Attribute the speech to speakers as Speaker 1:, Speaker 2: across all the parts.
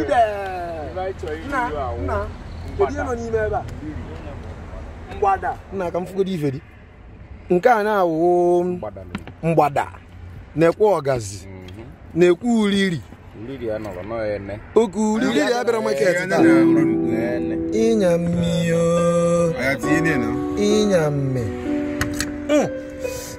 Speaker 1: Ide. Nna, nna, kedu ihe nọ n'ime ebe a? Mgbada. Nna ka m fụgodo ife dị. Nke a na-awụ mgbada nekwe ọgazi nekwe uriri
Speaker 2: oke uriri
Speaker 3: ya bịara maket taa ịnya mmiri o, ịnya mme Mm.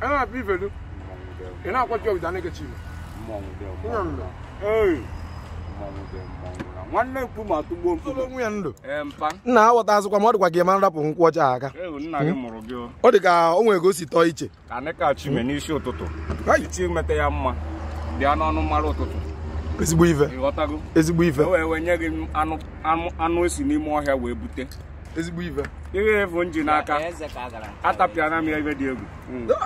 Speaker 3: a na-apịa ifelu ị na-akwachi ọgịda na-ekechi igbo
Speaker 2: nwanne mkpu ma tụgbuo mkpu onwe ya
Speaker 3: ndụ nna
Speaker 2: aghọtazukwa m
Speaker 3: ọ dịkwa ka ị ma nrapụ nkwụ ọcha aka
Speaker 2: ọ dị ka o nwere ka
Speaker 3: o si tọọ iche ka anyị ka chime
Speaker 2: n'isi ụtụtụ Hai. iti meta ya mma bịa n'ọnụ mara ụtụtụ ezigbo
Speaker 3: ife ị ghọtago ezigbo ife
Speaker 2: e wee wee
Speaker 3: nye gị anụ
Speaker 2: anụ- anụ e si n'ime ọhịa wee bute ezigbo ife
Speaker 3: ihe ị fụ m
Speaker 2: ji n'aka atapịana m ya ive dị egwu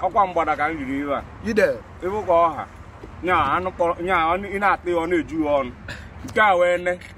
Speaker 2: ọkwa mgbada ka m riri ihe a ide ịbụ ka
Speaker 3: ọha
Speaker 2: nya anụ kpọrọ nya ọ- ị na-ata ya ọ na-eju ya ọnụ nke a wee ne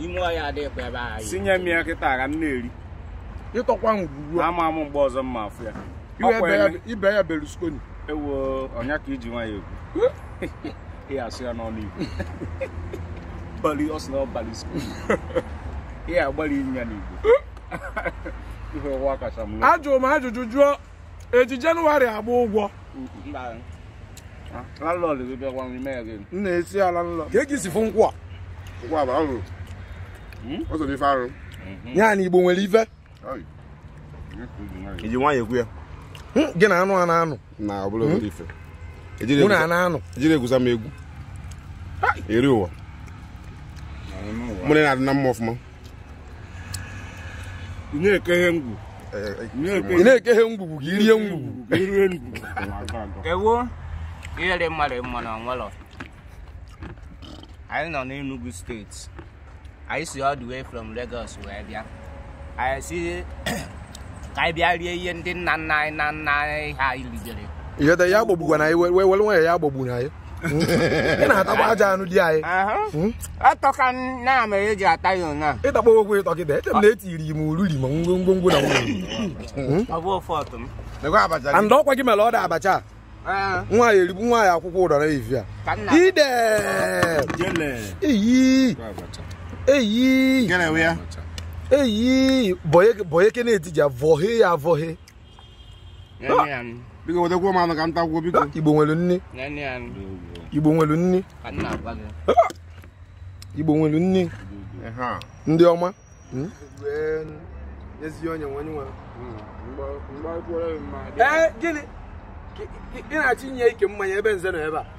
Speaker 2: ime ọhịa
Speaker 4: adịghịkwa ebe ahụ si nye m ya kịta
Speaker 2: ka m na-eri
Speaker 3: ịtọkwa ngwugwu a ama m mgbe ọzọ m
Speaker 2: ma-afụ ya iwe Ọkwa ebe ya- eme- ibe
Speaker 3: ya berlusconi ewo ọ
Speaker 2: nya ka e ji nwayọ ekwu ihe a sụ ya n'ọnụ igbo bali ọ sị na ọ bali skul ihe agbali ya n'igbo ihe ụwa kacha mma ajụrụ m ajụjụ jụọ
Speaker 3: e ji jenụwarị agba ụgwọ mba
Speaker 2: landlord gị bịakwa n'ime ya gị m na-esi ala nlọ
Speaker 3: ka gị si fụ nkwụ a nkwụ a bụ
Speaker 5: arụ ọ sọrọ ife arụ ya na igbo nwere
Speaker 3: ife
Speaker 5: e ji nwayọ ekwu ya Hmm, gị na
Speaker 3: anụ a na-anụ na ọ bụla obere
Speaker 5: ife e jiri mụ na a
Speaker 3: egwusa- na-anụ ejiri egwusa m egwu
Speaker 5: eri ụwa mụ na ị na-adị na mma ọfụma
Speaker 2: ị na-ekeghe ngwu
Speaker 3: ị na-ekeghe ngwugwu gị rie ngwugwu ka i rie ngwu
Speaker 2: ewo
Speaker 4: ihe dị mmadụ mma na nwelọ anyị nọ n'Enugu steeti anyị si all the way from Lagos wee bịa anyị sị ka anyị bịa rie ihe ndị nna nna anyị na nna anyị ha anyị ribere ihe dị ya
Speaker 3: agbagbuna anyị were nwayọ ya agbagbuna anyị ị na-atakwa aja anụ di anyị
Speaker 4: atọka na mere e ji ata ya ụna ịtakpọ okwu ịtọ kịta
Speaker 3: eche m na etiri m ururi ma ngwongwo na nwunye
Speaker 4: and ọkwa gị
Speaker 3: mere ọ dị abacha nwa ya eribu nwa ya akwụkwọ ụdara ivi a ide eyi eyi eyi boye kene etija vọhe ya vọhe
Speaker 5: biko wetakwa m anụ ka m takwuo biko igbo nwere nne
Speaker 3: igbo nwere nne igbo nwere nne ndị ọma hmm? ezi onye nwe onye nwe hmm. ee gịnị ị na-achọ inye ike mmanya ebe nze nọ ebe a